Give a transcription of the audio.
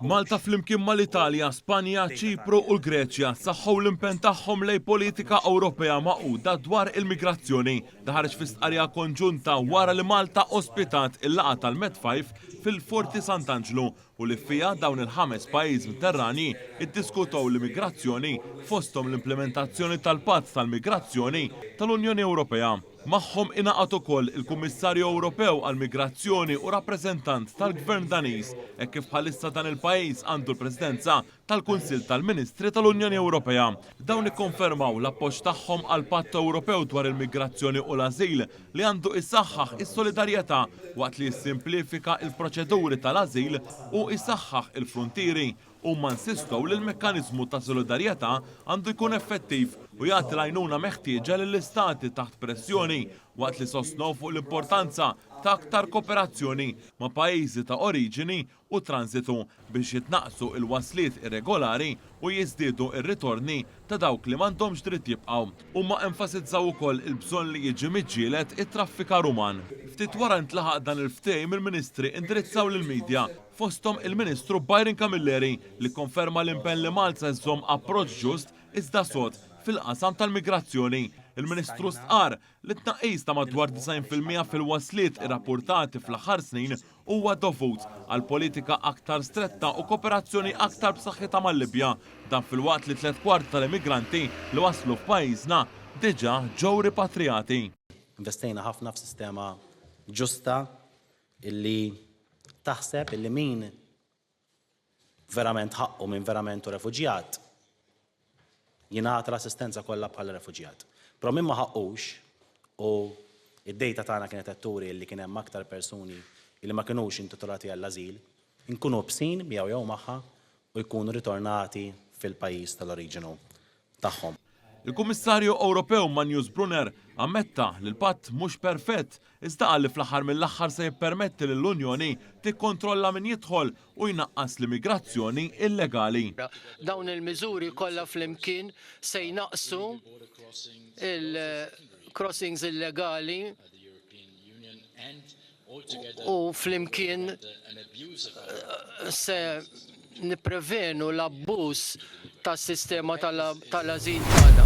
Malta flimkien mal-Italja, Spanja, Ċipru u l-Greċja saħħu l-impenn tagħhom lejn politika Ewropea magħquda dwar il-migrazzjoni. Dan ħareġ fi stqarrija konġunta wara li Malta ospitat il-laqgħa tal-MED5 fil-Forti Sant'Anġlu u li fiha dawn il-ħames pajjiż Mterranji ddiskutew l-immigrazzjoni fosthom l-implimentazzjoni tal-Patt tal-Migrazzjoni tal-Unjoni Ewropea. Magħhom ingħaqad ukoll il-Kummissarju Ewropew għall-Migrazzjoni u rappreżentant tal-Gvern Daniż hekk kif bħalissa dan il-pajjiż għandu l-Presidenza tal-Kunsill tal-Ministri tal-Unjoni Ewropea. Dawn ikkonfermaw l-appoġġ tagħhom għall-Patt Ewropew dwar il-Migrazzjoni u l-Ażil li għandu jsaħħaħ is-solidarjetà waqt li jissimplifika l-proċeduri tal-ażil u jsaħħaħ il-fruntieri Huma nsistow li l-mekkaniżmu ta' solidarjetà għandu jkun effettiv u jagħti l-għajnuna meħtieġa lill-Istati taħt pressjoni, waqt li sostnew fuq l-importanza ta' aktar kooperazzjoni ma' pajjiżi ta' oriġini u tranżitu biex jitnaqqsu l-wasliet irregolari u jiżdiedu r-ritorni ta' dawk li m'għandhomx dritt jibqgħu. Huma enfasizzaw ukoll il-bżonn li jiġi miġġieled it-traffikar uman. Ftit wara ntlaħaq dan il-ftehim il-Ministri indirizzaw lill-media. fosthom il-Ministru Byron Camilleri li kkonferma l-impenn li Malta se żżomm approċċ ġust iżda sod fil-qasam tal-migrazzjoni. Il-Ministru stqarr li t-tnaqqis ta' madwar 90 fil-mija fil-wasliet irrappurtati fl-aħħar snin huwa dovut għal politika aktar stretta u koperazzjoni aktar b'saħħitha mal-Libja, dan filwaqt li tliet kwart tal-immigranti li waslu f'pajjiżna diġà ġew ripatrijati. Investejna ħafna f'sistema ġusta illi taħseb illi min verament ħaqqu, min verament hu refuġjat, jingħata l-assistenza kollha bħala refuġjat. Però min ma ħaqqux u id-dejta tagħna kienet qed turi li kien hemm aktar persuni li ma kinux intitolati għall-ażil, inkunu bsin miegħu jew magħha u jkunu ritornati fil-pajjiż tal-oriġinu tagħhom. Il-Kummissarju Ewropew Manjus Brunner ammetta li l-Patt mhux perfett iżda qal li fl-aħħar mill-aħħar se jippermetti lill-Unjoni tikkontrolla min jidħol u jnaqqas l-immigrazzjoni illegali. Dawn il-miżuri kollha flimkien se jnaqqsu l-crossings illegali. u flimkien se nipprevenu l-abbuż tas-sistema tal-ażil tagħna.